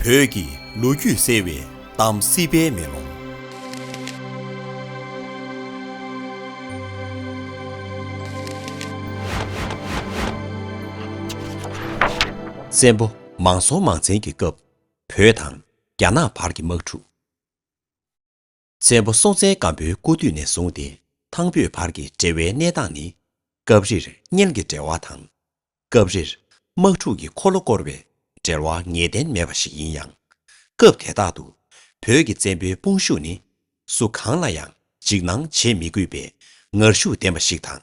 བོད་ཀྱི་ལོ་རྒྱུས་གསལ་བའི་གཏམ་སྲིད་པའི་མེ་ལོང། བཙན་པོ་མང་སྲོང་མང་བཙན་གྱི་སྐབས་བོད་དང་རྒྱ་ནག་བར་གྱི་དམག་འཁྲུག། བཙན་པོ་སྲོང་བཙན་སྒམ་པོའི་སྐུ་དུས་ནས་བཟུང་སྟེ་ཐང་བོད་བར་གྱི་འབྲེལ་བའི་གནས་སྟངས་ནི། སྐབས་རེར་གཉེན་གྱི་འབྲེལ་བ་དང། སྐབས་རེར་དམག་འཁྲུག་གི་འཁོར་ལོ་བསྐོར་བའི་འབྲེལ་བ་ངེས་གཏན་མེད་པ་ཞིག་ཡིན་ཡང། སྐབས་དེ་དག་ཏུ་བོད་ཀྱི་བཙན་པོའི་དཔུང་ཤུགས་ནི་སུ་གང་ལ་ཡང་འཇིགས་སྣང་བྱེད་མི་དགོས་པའི་ངར་ཤུགས་ལྡན་པ་ཞིག་དང།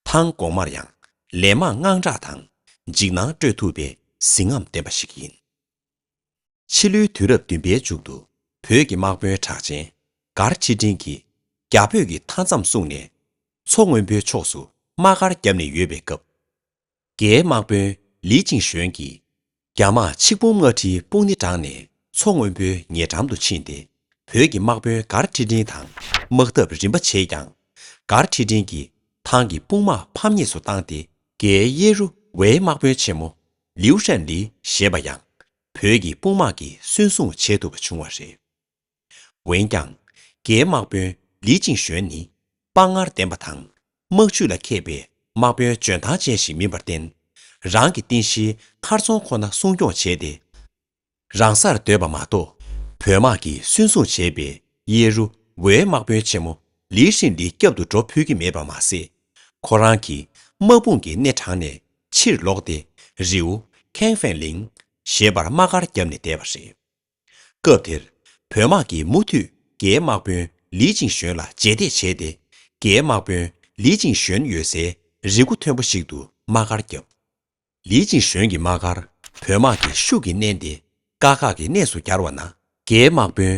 ཐང་གོང་མར་ཡང་ལན་མང་དངངས་སྐྲག་དང་འཇིགས་སྣང་སྤྲོད་ཐུབ་པའི་གཟི་རྔམ་ལྡན་པ་ཞིག་ཡིན། ཕྱི་ལོའི་དུས་རབས་བདུན་པའི་མཇུག་ཏུ། བོད་ཀྱི་དམག་དཔོན་གྲགས་ཅན། མགར་ཁྲི་འབྲིང་གིས། རྒྱ་བོད་ཀྱི་མཐའ་མཚམས་བསྲུངས་ནས། མཚོ་སྔོན་པོའི་ཕྱོགས་སུ་དམག་སྒར་བརྒྱབ་ནས་ཡོད་པའི་སྐབས། རྒྱའི་དམག་དཔོན་ལི་ཅིང་ཞོན་གྱིས། རྒྱ་དམག་ཆིག་འབུམ་ལྔ་ཁྲིའི་དཔུང་ནི་དྲངས་ནས་མཚོ་སྔོན་པོའི་ཉེ་འགྲམ་དུ་ཕྱིན་ཏེ། བོད་ཀྱི་དམག་དཔོན་མགར་ཁྲི་འབྲིང་དང་དམག་འཐབ་རིམ་པ་བྱས་ཀྱང། མགར་ཁྲི་འབྲིང་གིས་ཐང་གི་དཔུང་དམག་ཕམ་ཉེས་སུ་བཏང་སྟེ། རྒྱའི་གཡས་རུ་ཝེའི་དམག་དཔོན་ཆེན་མོ་ལིའུ་ཧྲན་ལི་ཞེས་པ་ཡང་བོད་ཀྱི་དཔུང་དམག་གིས་གསོན་བཟུང་བྱས་ཐུབ་པ་བྱུང་བ་རེད། འོན་ཀྱང། རྒྱའི་དམག་དཔོན་ལི་ཅིང་ཞོན་ནི་དཔའ་ངར་ལྡན་པ་དང་དམག་ཇུས་ལ་མཁས་པའི་དམག་དཔོན་འཇོན་ཐང་ཅན་ཞིག་མིན་པར་བརྟེན། རང་གི་རྟེན་གཞིའི་མཁར་རྫོང་ཁོ་ན་སྲུང་སྐྱོང་བྱས་ཏེ། རང་སར་སྡོད་པ་མ་གཏོགས་བོད་དམག་གིས་སུན་བཟུང་བྱས་པའི་གཡས་རུ་ཝའི་དམག་དཔོན་ཆེན་མོ་ལི་ཧྲིན་ལི་སྐྱབས་འདུག་འགྲོ་ཕོད་ཀྱི་མེད་པ་མ་ཟད། ཁོ་རང་གིས་དམག་དཔུང་གི་སྣེ་དྲངས་ནས་ཕྱིར་ལོག་སྟེ་རིའུ། ཁེང་ཧྥེང་ལིང། ཞེས་པར་དམག་སྒར་བརྒྱབ་ནས་བསྡད་པ་རེད། སྐབས་དེར་བོད་དམག་གིས་མུ་མཐུད་རྒྱའི་དམག་དཔོན་ལི་ཅིང་ཞོན་ལ་རྗེས་འདེད་བྱས་ཏེ་རྒྱའི་དམག་དཔོན་ལི་ཅིང་ཞོན་ཡོད་སའི་རི་མགོ་མཐོན་པོ་ཞིག་ཏུ་དམག་སྒར་བརྒྱབ། ལི་ཅིན་ཞོན་གྱི་དམག་སྒར་བོད་དམག་གིས་ཤུགས་ཀྱིས་མནན་ཏེ་དཀའ་ཁག་གི་གནས་སུ་གྱར་བ་ན། རྒྱའི་དམག་དཔོན་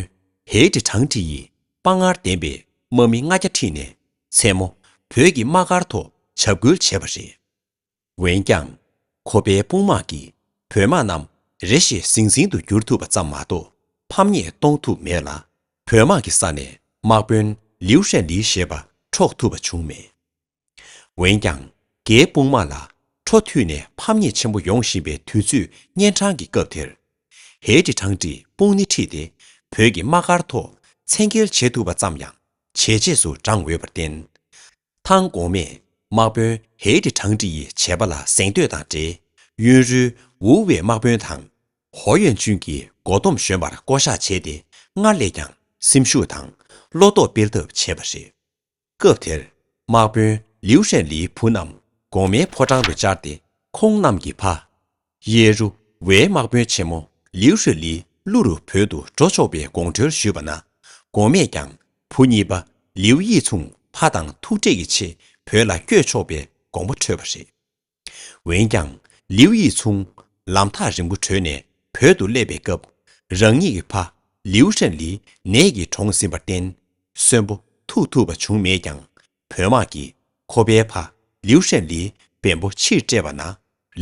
ཧའེ་ཀྲི་ཁྲང་ཁྲི་ཡིས་དཔའ་ངར་ལྡན་པའི་དམག་མི་ལྔ་བརྒྱ་ཁྲིད་ནས་མཚན་མོ་བོད་ཀྱི་དམག་སྒར་ཐོག་བྱབས་ཁུལ་བྱས་པ་རེད། འོན་ཀྱང། ཁོ་པའི་དཔུང་དམག་གིས་བོད་དམག་རྣམས་རེ་ཞིག་ཟིང་ཟིང་དུ་བསྒྱུར་ཐུབ་པ་ཙམ་མ་གཏོགས་ཕམ་ཉེས་གཏོང་ཐུབ་མེད་ལ། བོད་དམག་གི་ས་ནས་དམག་དཔོན་ལིའུ་ཧྲན་ལི་ཞེས་པ་འཕྲོག་ཐུབ་པ་བྱུང་མེད། འོན་ཀྱང་རྒྱའི་དཔུང་དམག་ལ་འཕྲོ་མཐུད་ནས་ཕམ་ཉེས་ཆེན་པོ་ཡོང་བཞིན་པའི་དུས་ཚོད་གཉན་འཕྲང་གི་སྐབས་དེར། ཧའེ་ཀྲི་ཁྲང་ཀྲི་དཔུང་སྣེ་ཁྲིད་དེ་བོད་ཀྱི་དམག་སྒར་ཐོག་མཚན་འཁེལ་བྱེད་ཐུབ་པ་ཙམ་ཡང་བྱས་རྗེས་སུ་འབྲངས་འོས་པར་བརྟེན། ཐང་གོང་མས་དམག་དཔོན་ཧའེ་ཀྲི་ཁྲང་ཀྲི་ཡི་བྱས་པ་ལ་གཟེངས་བསྟོད་དང་འབྲེལ་གཡོན་རུའུ་ཝེ་དམག་དཔོན་དང། ཧོ་ཡོན་ཅུན་གྱི་མགོ་སྡོམ་གཞོན་པར་བསྐོ་བཞག་བྱས་ཏེ་སྔར་ལས་ཀྱང་སེམས་ཤུགས་དང་བློ་སྟོབས་སྤེལ་ཐབས་བྱས་པ་རེད། སྐབས་དེར་དམག་དཔོན་ལིའུ་ཧྲན་ལིའི་བུ་རྣམས་གོང་མའི་ཕོ་བྲང་དུ་བཅར་ཏེ་ཁོང་རྣམས་ཀྱི་ཕ། ཡེ་རུ་ཝའི་དམག་དཔོན་ཆེན་མོ་ལིའུ་ཧྲི་ལི་ཀླུ་རུ་བོད་དུ་འགྲོ་ཆོག་པའི་དགོངས་ཁྲོལ་ཞུས་པ་ན། གོང་མས་ཀྱང་བུ་གཉིས་པ་ལིའུ་ཡིས་མཚུངས་ཕ་དང་ཐུག་འཕྲད་ཀྱི་ཆེད་བོད་ལ་བསྐྱོད་ཆོག་པའི་དགོངས་པ་འཁྲོལ་བ་རེད། འོན་ཀྱང་ལིའུ་ཡི་ཚུང། ལམ་ཐག་རིང་པོ་བྲོས་ནས་བོད་དུ་སླེབས་པའི་སྐབས། རང་ཉིད་ཀྱི་ཕ། ལིའུ་ཧྲན་ལི། ནད་ཀྱིས་གྲོངས་ཟིན་པར་བརྟེན། གསོན་པོ་ཐུག་ཐུབ་པ་བྱུང་མེད་ཀྱང། བོད་དམག་གིས་ཁོ་པའི་ཕ། ལིའུ་ཧྲན་ལིའི་བེམ་པོ་ཕྱིར་སྤྲད་པ་ན།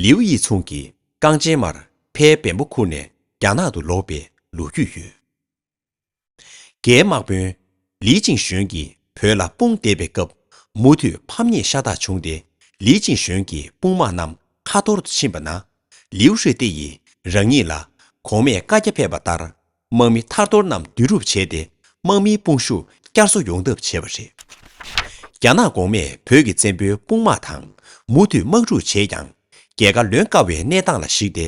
ལིའུ་ཡི་ཚུང་གིས་རྐང་རྗེན་མར་ཕའི་བེམ་པོ་ཁུར་ནས་རྒྱ་ནག་ཏུ་ལོག་པའི་ལོ་རྒྱུས་ཡོད། རྒྱའི་དམག་དཔོན། ལིས་ཅིང་ཞོན་གྱིས་བོད་ལ་དཔུང་བསྡེབས་པའི་སྐབས། མུ་མཐུད་ཕམ་ཉེས་ཤ་སྟག་བྱུང་སྟེ། ལིས་ཅིང་ཞོན་གྱི་དཔུང་དམག་རྣམས་ཁ་འཐོར་དུ་ཕྱིན་པ་ན། ལིའུ་ཧྲི་ཏེ་ཡིས་རང་ཉིད་ལ་གོང་མས་བཀའ་རྒྱ་ཕེབས་པ་ལྟར། དམག་མི་ཐར་ཐོར་རྣམས་བསྡུ་རུབ་བྱས་ཏེ་དམག་མིའི་དཔུང་ཤུགས་བསྐྱར་གསོ་ཡོང་ཐབས་བྱས་པ་རེད། རྒྱ་ནག་གོང་མས་བོད་ཀྱི་བཙན་པོའི་དཔུང་དམག་དང་མུ་མཐུད་དམག་འཁྲུག་བྱས་ཀྱང། རྒྱལ་ཁ་ལོན་དཀའ་བའི་གནས་སྟངས་ལ་གཞིགས་ཏེ་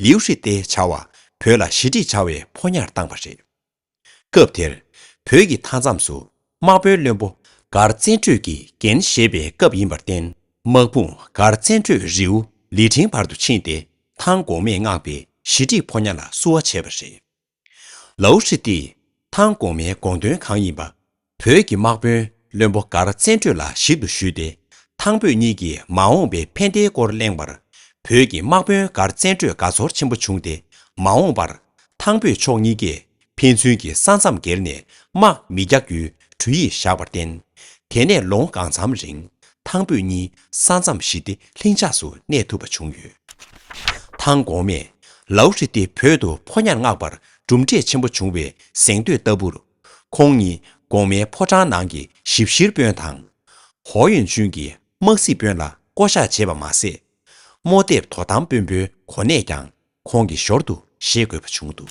ལིའུ་ཧྲི་ཏེ་བྱ་བ་བོད་ལ་ཞི་འགྲིག་བྱ་བའི་ཕོ་ཉར་བཏང་བ་རེད། སྐབས་དེར་བོད་ཀྱི་མཐའ་མཚམས་སུ་དམག་དཔོན་བློན་པོ་མགར་བཙན་བྲོད་ཀྱི་འགན་བཞེས་པའི་སྐབས་ཡིན་པར་བརྟེན་དམག་དཔུང་མགར་བཙན་བྲོད་རིའུ་ལི་ཁྲིན་བར་དུ་ཕྱིན་ཏེ་ཐང་འགོག་མེད་མངགས་པའི་ཞི་འགྲིག་ཕོ་ཉར་ལ་བསུ་བ་བྱས་པ་རེད། ལའུ་ཧྲི་ཏི། ཐང་གོང་མའི་དགོངས་དོན་གང་ཡིན་པ། བོད་ཀྱི་དམག་དཔོན་བློན་པོ་མགར་བཙན་བྲོད་ལ་ཞིབ་ཏུ་ཞུས་ཏེ་ཐང་བོད་གཉིས་ཀྱི་མ་འོངས་པའི་ཕན་བདེའི་སྐོར་གླེང་བར། བོད་ཀྱི་དམག་དཔོན་མགར་བཙན་བྲོད་དགའ་ཚོར་ཆེན་པོ་བྱུང་སྟེ་མ་འོངས་པར་ཐང་བོད་ཕྱོགས་གཉིས་ཀས་ཕན་ཚུན་གྱི་ས་མཚམས་བརྒལ་ནས་དམག་མི་རྒྱག་རྒྱུའི་གྲོས་ཡིག་བཞག་པར་བརྟེན། དེ་ནས་ལོ་ངོ་གང་འཚམ་རིང་ཐང་བོད་གཉིས་ས་མཚམས་ཞི་བདེ་ལྷིང་འཇགས་སུ་གནས་ཐུབ་པ་བྱུང་ཡོད། ཐང་གོང་མས་ལའུ་ཧྲི་ཏེ་བོད་དུ་ཕོ་ཉར་མངགས་པར་གྲུབ་འབྲས་ཆེན་པོ་བྱུང་བའི་གཟེངས་བསྟོད་ལྟ་བུར། ཁོང་ཉིད་གོང་མའི་ཕོ་བྲང་ནང་གི་ཞིབ་བཤེར་དཔོན་དང། ཧོ་ཡོན་ཅུན་གྱི་དམག་སྲིད་དཔོན་ལ་བསྐོ་བཞག་བྱས་པ་མ་ཟད། རྨོ་འདེབས་དོ་དམ་དཔོན་པོའི་གོ་གནས་ཀྱང་ཁོང་གི་ཞོར་དུ་བཞེས་དགོས་པ་བྱུང་འདུག།